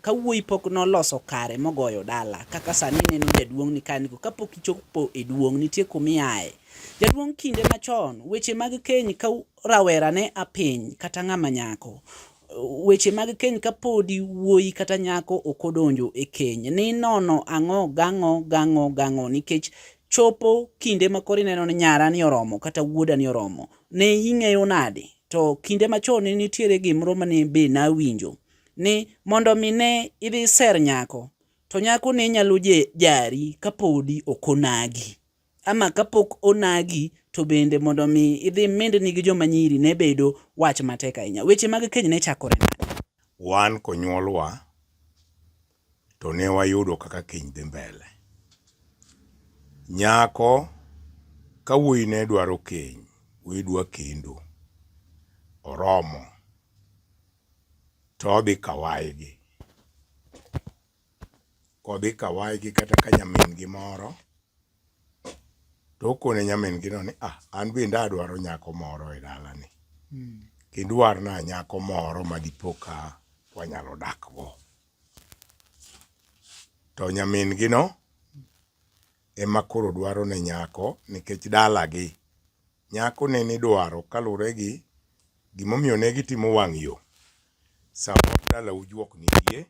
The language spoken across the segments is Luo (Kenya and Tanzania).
Ka wuoyi pok noloso kare mogoyo dala, kaka sani ineno jaduong' ni ka niko, kapok ichopo e duong' nitie kumiaye. Jaduong' kinde machon, weche mag keny ka rawera ne a piny kata ng'ama nyako, weche mag keny ka podi wuoyi kata nyako ok odonjo e keny, ni nono ang'o gang'o gang'o gang'o nikech chopo kinde ma koro ineno ni nyara ni oromo kata wuoda ni oromo, ne ing'eyo nade? To kinde machon ne nitiere gimro mane be nawinjo ni mondo mi ne idhi ser nyako to nyako ne nyalo jari kapodi ok onagi ama kapok onagi to bende mondo mi idhi mindni gi joma nyiri ne bedo wach matek ahinya. Weche mag keny ne chakore nade? Wan konyuolwa to ne wayudo kaka keny dhi mbele. Nyako ka wuoyi ne dwaro keny, wuoyi dwa kendo, oromo. to odhi kawaygi. Kodhi kawaygi kata ka nyamin-gi moro, to okone nyamin-gino ni, ah, an bende adwaro nyako moro e dalani. Hmm. Kendo warna nyako moro ma dipo ka wanyalo dakgo. To nyamin-gino ema koro dwaro ne nyako nikech dalagi Nyako ne nidwaro kalure gi gimomiyo ne gitimo wang' yo. Sama dala ujuok nitie,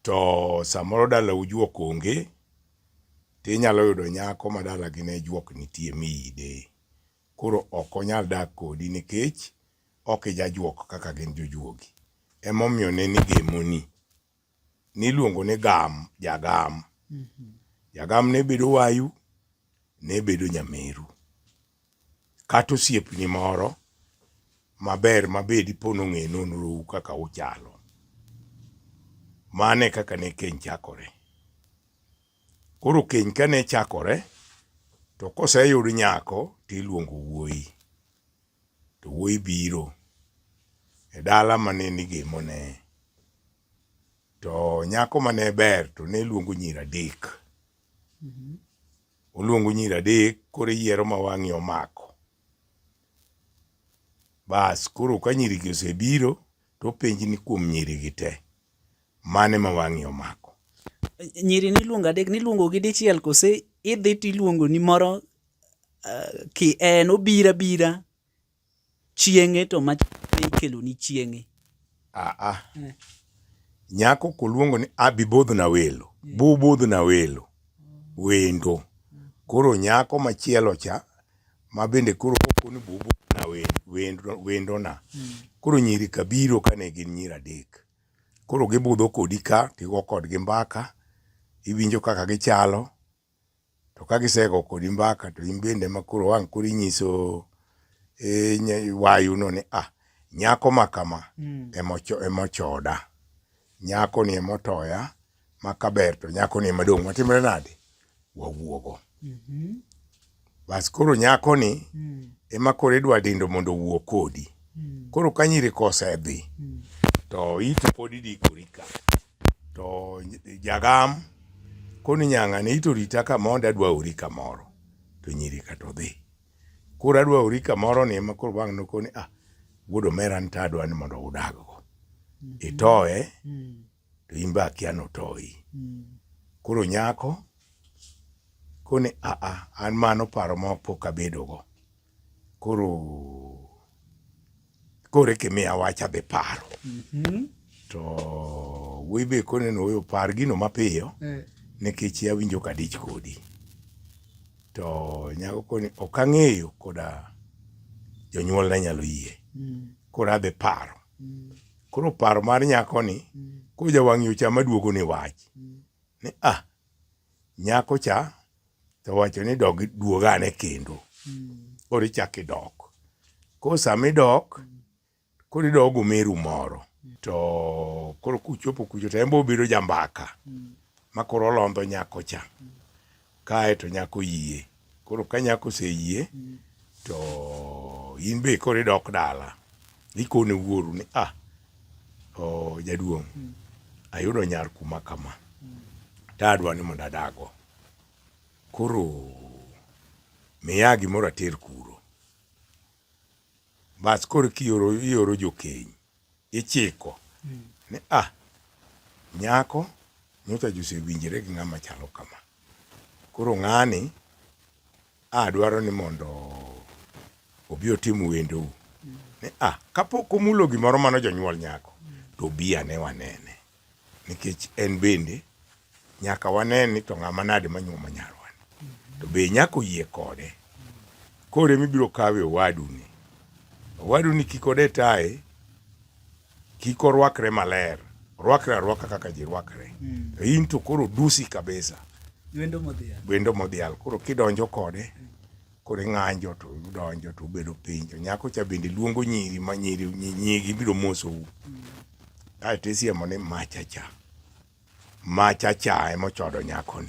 to samoro dala ujuok onge, to inyalo yudo nyako ma dala gi ne juok nitie miyide. Koro ok onyal dak kodi nikech ok ijajuok kaka gin jojuogi. Emomiyo ne nigemoni. niluongo ni gam jagam jagam ne bedo wayu ne bedo nyameru kata osiepni moro maber mabed ipo nong'e nonrou kaka uchalo mane kaka ne keny chakore koro keny kane chakore to koseyud nyako tiluongo wuoyi To wuoyi biro e dala mane nigemone, to nyako mane ber to ne luongo nyiri adek. Mm-hmm. Oluongo nyiri adek, koro eyiero ma wang'i omako. Bas, koro ka nyirigi osebiro, to openji ni kuom nyirigi te, mane ma wang'i omako? Nyiri niluongo adek, niluongo gi dichiel kose idhi tiluongo ni moro ki en obiro abira chieng'e to mach ikeloni chieng'e. Aa, nyako koluongo ni abibodhna welo, bubudhna welo, wendo. Koro nyako machielo cha ma bende koro koko ni bubudhna wendo, wendo, wendona. Koro nyiri ka biro ka ne gin nyiri adek. Koro gibudho kodi ka, tigo kodgi mbaka, iwinjo kaka gichalo, to ka gisego kodi mbaka to in bende ma koro wang' koro inyiso e, ny- wayuno ni ah nyako ma kama Mm. emocho- emochoda nyako ni emotoya ma kaber to nyako ni emadong' matimre nade wawuogo Mhm. Bas koro nyako ni mm. ema koro idwa dindo mondo owuo kodi. Mm. Koro ka nyiri kosedhi mm. to iti pod idikori ka. To jagam koni nyanga ni ito rita ka mondo adwa ori kamoro. To nyiri ka to dhi. Koro adwa ori kamoro ni ema koro bang' nokoni ah wuod omera nita adwa ni mondo udag go. Mm-hmm. Itoye mm. to in be akia notoyi. Mm. Koro nyako koni aa an mano paro ma pok abedogo. Koro kore kimiya wach adhi paro. Mm -hmm. To wuoyi be kone ni oyo par gino mapiyo eh. nikech awinjo ka dich kodi. To nyako koni ok ang'eyo koda jonyuolna nyalo yie. Mm. Koro adhi paro. Koro paro mar nyakoni koro jawang' yo cha maduogo ni wach ni ah nyako cha to wacho ni dog duog ane kendo koro ichak idok koro sama idok koro idok gomeru moro to koro kuchopo kucho to en be obedo jambaka ma koro olondho nyako cha Kae to nyako yie. Koro ka nyako oseyie mm. to in be koro idok dala ikone wuoru ni ah o jaduong' mm. ayudo nyar kuma kama mm. tadwa ni mondo adago koro miya gimoro ater kuro bas koro kioro ioro jokeny ichiko ni ah, nyako nyocha josewinjore gi ng'ama chalo kama. Koro ng'ani a dwaro ni mondo obi otim wendou. Ni ah, kapok omulo gimoro mano jonyuol nyako, to obi ane wanene. nikech en bende nyaka wane ni to ng'ama nade manyuomo nyarwani to be nyaka oyie kode kore mibiro kawe owadu ni owadu ni kik ode taye kik orwakre maler orwakre arwaka kaka ji rwakre mm. to in to koro dusi kabisa wendo modhial koro kidonjo kode mm. koro ing'anjo to udonjo to ubedo piny to nyako cha bende luongo nyiri ma nyiri nyigi biro mosou kaeto isiemo ni machacha machacha emochodo nyakoni